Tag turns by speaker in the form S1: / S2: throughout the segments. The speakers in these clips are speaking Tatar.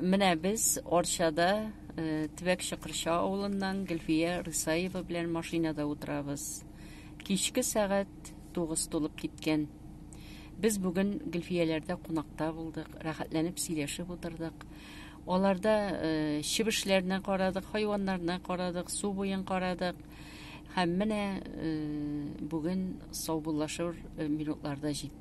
S1: Менә без Орчада э, Тибәк Чыкырча авылыннан Гөлфия Рысаева белән машинада утырабыз. Кичке сәгать 9 тулып киткән. Без бүген Гөлфияләрдә кунакта булдык, рәхәтләнеп сөйләшеп утырдык. Аларда э, чебешләрне карадык, хайваннарны карадык, су буен карадык. Һәм менә э, бүген саубуллашыр э, минутларда җитте.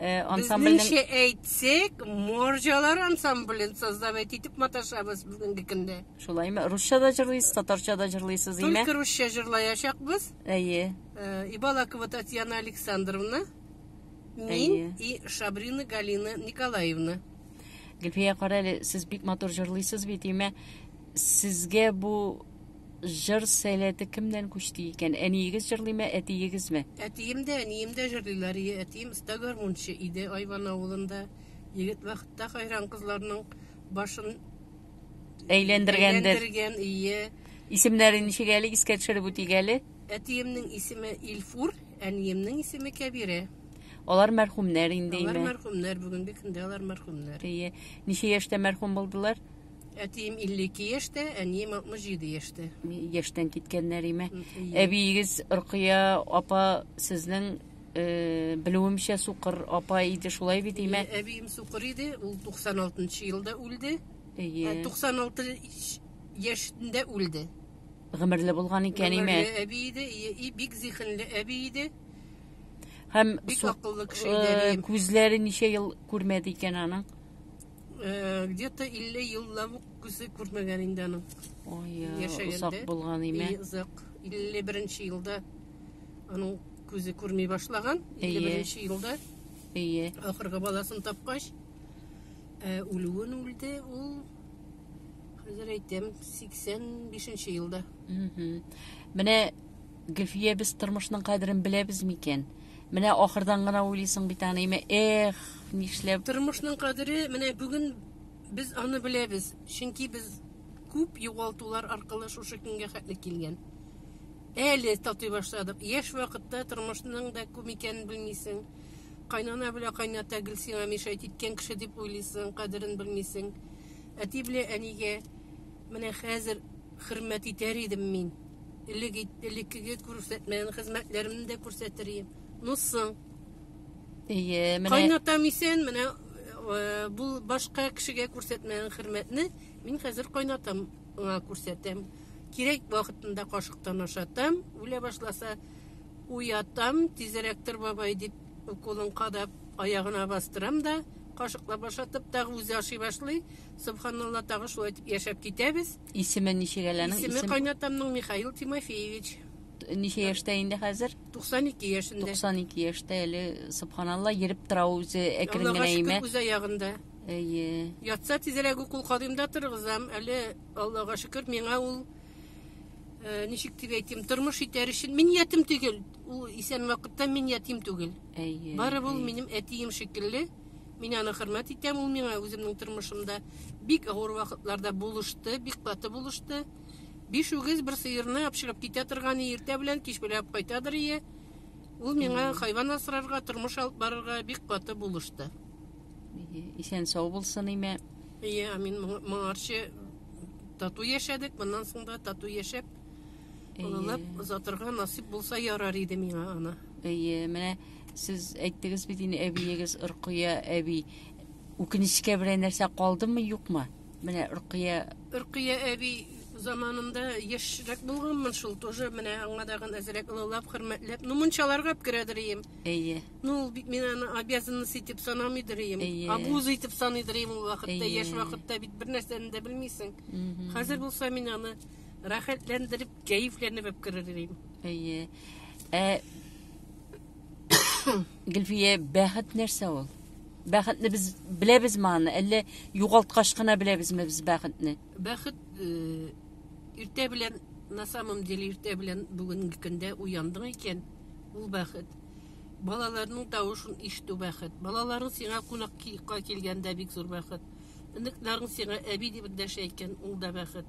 S2: Э,
S1: ансамбльнең Безнеңчә әйтсәк,
S2: морҗалар ансамблен создавать итеп маташабыз бүгенге көндә. Шулаймы? Русча да
S1: җырлыйсыз, татарча да җырлыйсыз, име? Только русча җырлаячакбыз.
S2: Әйе. Э,
S1: Ибалакова
S2: Татьяна Александровна, мин и Шабрина Галина Николаевна. Гөлфия,
S1: кара әле, сез бик матур җырлыйсыз бит, име? Сезгә бу җыр сәләте кемнән күчте икән? Әниегез җырлыймы, әтиегезме? Әтием дә, әнием
S2: дә җырлыйлар. Ие, әтием оста гармунчы иде Айван авылында. Егет вакытта хайран кызларның башын әйләндергәндер.
S1: Әйләндергән, ие.
S2: Исемнәре ничек
S1: әле искә төшереп үтик әле? Әтиемнең исеме
S2: Илфур, әниемнең исеме Кәбирә. Алар
S1: мәрхүмнәр инде. Алар мәрхүмнәр, бүгенге көндә
S2: алар мәрхүмнәр. Ие. Ничә
S1: яшьтә мәрхүм булдылар? Әтием
S2: 52 яшьтә, әнием 67 яшьтә. Яшьтән киткәннәр
S1: име? Әбиегез
S2: Рукыя
S1: апа сезнең э, белүемчә сукыр апа иде, шулай бит име? Әбием сукыр иде,
S2: ул 96 елда үлде.
S1: Әйе. 96
S2: яшендә үлде. Гомерле
S1: булган икән име? Гомерле әби иде, и
S2: бик зихенле әби иде. Һәм
S1: бик акыллы
S2: кеше иде. Э, күзләре ничә ел
S1: күрмәде икән аның? Э,
S2: где-то 50 еллап ук күзе күрмәгән инде аның. Ой,
S1: озак
S2: булган име?
S1: Озак.
S2: 51 елда аның күзе күрми башлаган. 51 елда. Әйе.
S1: Ахыргы баласын
S2: тапкач, э, үлүен үлде ул. Хәзер әйтәм, 85 елда.
S1: Менә Гөлфия, без тормышның кадерен беләбез микән? Менә ахырдан гына уйлыйсың бит аны, имә, эх, нишләп? Тормышның кадере
S2: менә бүген без аны беләбез, чөнки без күп югалтулар аркылы шушы көнгә хәтле килгән. Әле татый башладык. Яшь вакытта тормышның да күп икәнен белмисең. Кайнана белә кайната гел сиңа мешать иткән кеше дип уйлыйсың, кадерен белмисең. Әти белә әнигә менә хәзер Хөрмәт итәр идем мин. Элек ит, элеккеге күрсәтмәгән хезмәтләремне дә күрсәтер идем. Ну соң.
S1: Әйе, менә. Кайнатам исән, менә э,
S2: бу башка кешегә күрсәтмәгән хөрмәтне мин хәзер кайнатам аңа күрсәтәм. Кирәк вакытында кашыктан ашатам, үлә башласа уятам, тизрәк тор бабай дип уколын кадап аягына бастырам да, кашыклап ашатып тагы үзе ашый башлый. Субханалла, тагы шулай итеп яшәп китәбез. Исеме ничек
S1: әләнең? Исеме Исем... кайнатамның
S2: Михаил Тимофеевич. Ничә яшьтә
S1: инде хәзер? 92 яшендә.
S2: 92 яшьтә әле,
S1: субханалла, йөреп тора үзе әкрен генә имә. Аллага шөкер,
S2: ягында. Әйе.
S1: Ятса тизрәк
S2: укул кадимда торгызам. Әле Аллага шөкер, миңа ул э, ничек дип әйтим, тормыш итәр өчен мин ятим түгел. Ул исән вакытта мин ятим түгел. Әйе. Бары бул
S1: минем
S2: әтием шикелле. Мин аны хөрмәт итәм, ул миңа үземнең тормышымда бик авыр вакытларда булышты, бик каты булышты. Биш үгез бер сыерны апшырып китә торган иртә белән кич беләп кайтадыр ие. Ул миңа хайван асрарга, тормыш алып барырга бик каты булышты.
S1: Исән сау булсын име. Ие, амин.
S2: Моңарчы тату яшәдек, моннан соң да тату яшәп Олылап озатырга насип булса ярар иде миңа аны. Әйе, менә
S1: сез әйттегез бит инде әбиегез Ркыя әби. Үкенечкә белән нәрсә калдымы, юкмы? Менә Ркыя Ркыя әби
S2: заманында яшьрәк булганмын шул, тоже менә аңа дагын әзрәк олылап, хөрмәтләп. Ну, мунчаларга керәдер ием. Әйе. Ну, ул
S1: бит мин аны
S2: обязанность итеп санамыйдыр ием. Әйе. Абуз итеп саныйдыр ием ул вакытта, Әйе. яшь вакытта бит бер нәрсәне дә белмисең. Мгм. Хәзер булса мин аны Рәхәтләндереп, кәефләнеп әп керер идем. Әйе.
S1: Ә Гөлфия, бәхет нәрсә ул? Бәхетне без беләбез маны, әллә югалткач кына беләбезме без бәхетне? Бәхет
S2: э, иртә белән на самом деле иртә белән бүгенге көндә уяндың икән, ул бәхет. Балаларның тавышын ишетү бәхет. Балаларың сиңа кунакка килгәндә бик зур бәхет. Оныкларың сиңа әби дип дәшә икән, ул да бәхет.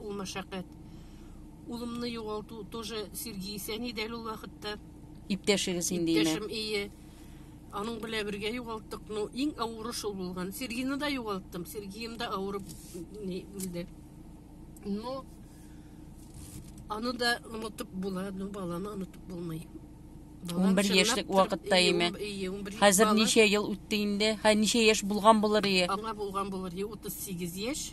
S2: ул мәшәкать. Улымны югалту тоже Сергей Сәни дәл ул вакытта. Иптәшегез
S1: инде инде. Иптәшем ие.
S2: Аның белән бергә югалттык. Ну, иң авыры шул булган. Сергейны да югалттым. Сергеем да авырып үлде. Но аны да онытып була, но баланы онытып булмый. 11
S1: яшьлек вакытта име? Хәзер ничә ел үтте инде? Хә ничә яшь булган булыр ие? Аңа булган булыр
S2: ие 38 яшь.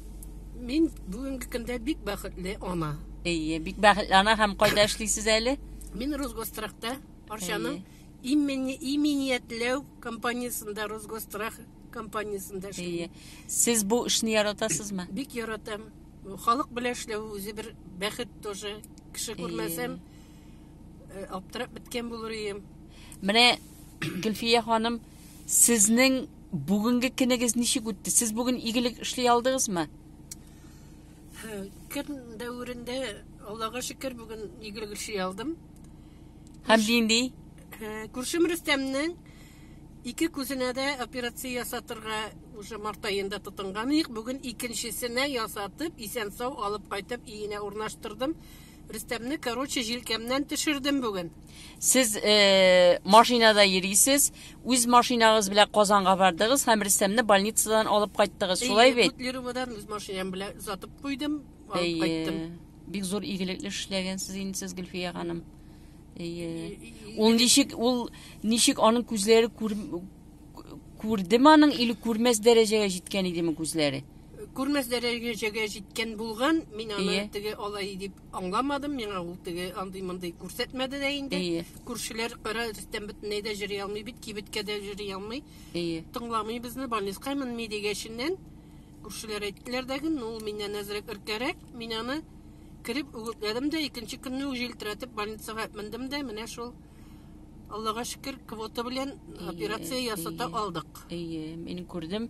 S2: Мин бүгенге көндә бик бәхетле ана. Әйе, бик бәхетле
S1: ана һәм кайда эшлисез әле? Мин Росгострахта
S2: Арчаның имени иминиятләү компаниясендә Росгострах компаниясендә эшлим. Сез бу эшне
S1: яратасызмы? Бик яратам.
S2: Халык белән эшләү үзе бер бәхет тоже. Кеше күрмәсәм, э, аптырап беткән булыр идем. Менә
S1: Гөлфия ханым Сезнең бүгенге кенегез ничек үтте? Сез бүген игелек эшли алдыгызмы?
S2: Көн дәверендә Аллага шөкер бүген игелек эшли алдым. Һәм
S1: нинди? Күршем
S2: Рөстәмнең ике күзенә дә операция ясатырга уже март айында тотынган идек. Бүген икенчесенә ясатып, исән сау алып кайтып, иенә урнаштырдым. Рөстәмне, короче, җилкәмнән төшердем бүген. Сез э,
S1: машинада йөрисез, үз машинагыз белән Казанга бардыгыз һәм Рөстәмне больницадан алып кайттыгыз. Шулай бит? Котлероводан үз машинам
S2: белән озатып куйдым, алып кайттым. Бик зур игелекле
S1: эшләгәнсез инде сез Гөлфия ханым. Әйе. Ул ничек ул ничек аның күзләре күр, күрдеме аның или күрмәс дәрәҗәгә җиткән идеме күзләре? Күрмәс
S2: дәрәҗәгә җиткән булган, мин аны теге алай дип Аңламадым, миңа ул теге андый-мондый күрсәтмәде дә инде. Әйе. Күршеләр кара рөстәм бөтенләй дә җыри алмый бит, кибеткә дә җыри алмый. Әйе. Тыңламый безне, больницка менми дигәченнән, күршеләр әйттеләр дә гөн, ул миннән әзрәк өркәрәк, мин аны кереп үгетләдем дә, икенче көнне үк җилтерәтеп больницага мендем дә, менә шул Аллага шөкер, квота
S1: белән
S2: операция ясата алдык.
S1: Әйе,
S2: мин күрдем.